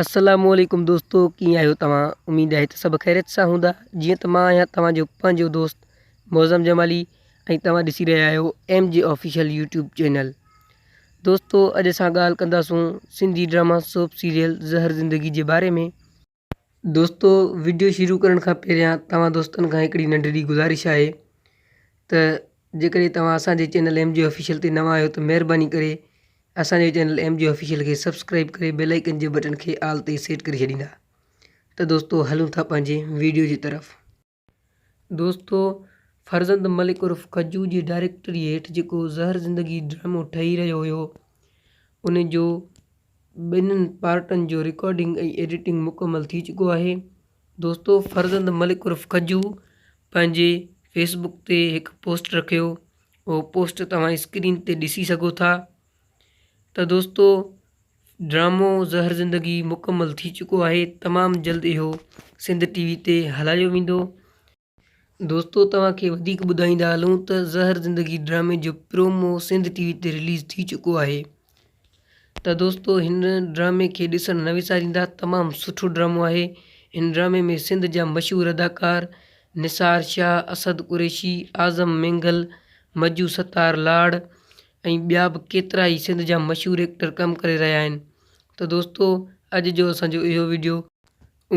السلام عليڪم دوستو ڪيئن آهيو توهان اميد آهي ته سڀ خيريت سان هوندا جيئن ته مان آهيان توهان جو پنهنجو دوست معظم جمالي ۽ توهان ڏسي رهيا آهيو M G official YouTube channel دوستو اڄ اسان ڳالهه ڪنداسون Sindhi drama soap serial Zahar Zindagi جي باري ۾ دوستو وڊيو شروع ڪرڻ کان پهريان توهان دوستن کان هڪڙي ننڍڙي گذارش آهي ته جيڪڏهن توهان اسان جي چينل ايم جي آفيشل تي نوان آهيو ته مهرباني ڪري اسان جو چينل ايم جي آفيشل کي سبسڪرائب ڪري بيل آئيڪن جي بٽڻ کي آل تي سيٽ ڪري ڇڏيندا ته دوستو هلون ٿا پنهنجي وڊيو جي طرف دوستو فرزند ملڪ عرف ڪجو جي ڊائريڪٽري هيٺ جيڪو زهر زندگي ڊرامو ٺهي رهيو هيو ان جو ٻنهن پارٽن جو رڪارڊنگ ۽ ايڊيٽنگ مڪمل ٿي چڪو آهي دوستو فرزند ملڪ عرف ڪجو پنهنجي فيس بڪ تي هڪ پوسٽ رکيو اهو پوسٽ توهان اسڪرين تي ڏسي سگهو ٿا ته دوستو ڊرامو زهر زندگي مڪمل ٿي چڪو آهي تمام جلد اهو سنڌ ٽي وي تي هلايو ويندو. دوستو توهان کي وڌيڪ ٻڌائيندا هلون ته زهر زندگي ڊرامي جو پرومو سنڌ ٽي وي تي رليز ٿي چڪو آهي ته دوستو هن ڊرامي کي ڏسڻ نه وساريندا تمام سٺو ڊرامو آهي هن ڊرامي ۾ سنڌ جا مشهور اداڪار نثار شاهه، اسد قريشي، اعظم مينگل، مجو ستار لاڙ، ۽ ٻيا به ڪيترا ئي سنڌ جا مشهور ايڪٽر ڪم ڪري رهيا آهن ته دوستو اڄ جو اسان جو اهو وڊيو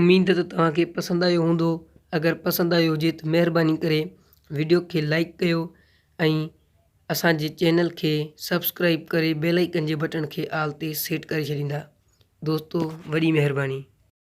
اميد ته توهان کي پسند آيو هوندو اگر پسند آيو هجي ته مهرباني ڪري وڊيو کي لائڪ ڪيو ۽ اسان جي چينل کي سبسڪرائب ڪري بيل آئيڪن جي بٽڻ کي آل تي سيٽ ڪري ڇڏيندا دوستو وڏي مهرباني.